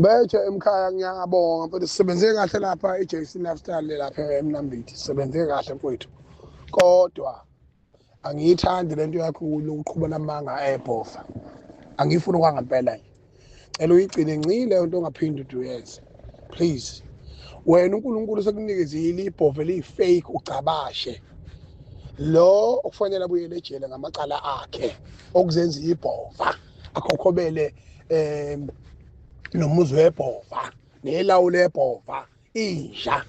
Bethe emkhaya ngiyabonga mfethu sisebenze kahle lapha i-JC Lifestyle lapha eMnambithi sisebenze kahle mfethu kodwa angiyithandi lento yakho ukuqhuba namanga ebhofa angifuni kwangempela nje cela uyigcine ncile into ongaphindi uduyenze please wena uNkulunkulu sekunikezile ibhove liyi-fake ugcabashe lo okufanele abuyele ejele ngamacala akhe okuzenza ibhova akhokhobele um nomuzi webhova nelawu lebhova inja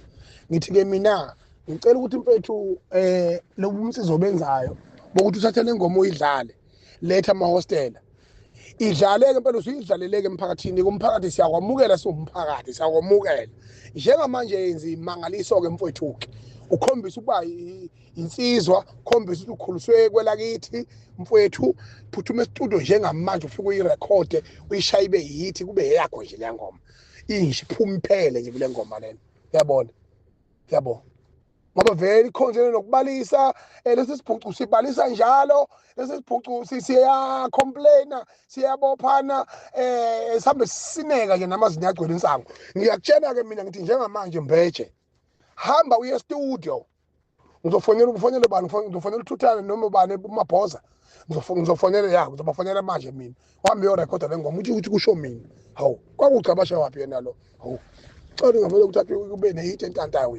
ngithi-ke mina ngicela ukuthi mfethu um eh, lobu umsizo obenzayo bokuthi uthathe le ngoma uyidlale letha amahostela idlaleke impela usuyidlaleleke emphakathini kumphakathi siyakwamukela siwumphakathi siyakwamukela njengamanje yenza imangaliso-ke mfwethu-ke ukhombisa ukuba insizwa khombisa ukuthi ukhuliswe kwelakithi mfowethu phuthuma estudio njengamanje ufike uyirekhode uyishaye ibe yithi kube eyakho nje le ngoma inje iphuma iphele nje kule ngoma lena uyabona uyabona ngoba vele ikhonjene nokubalisa eh, lesi sibhucu sibalisa njalo lesi sibhucu siyacomplaina siyabophana um sihambe sisineka nje namazinyo agcwele insango ngiyakutshena-ke mina ngithi njengamanje mbeje hamba uye estudio ngizofonela ufonele bani ngizofonela uthuthane noma ubani umabhoza ngizofonela ya ngizobafonela manje mina wami yorekhoda le ngoma uthi ukuthi kusho mina hawu kwakugcabashe waphi yena lo hawu cela ngavele ukuthi athi kube nehit entantayo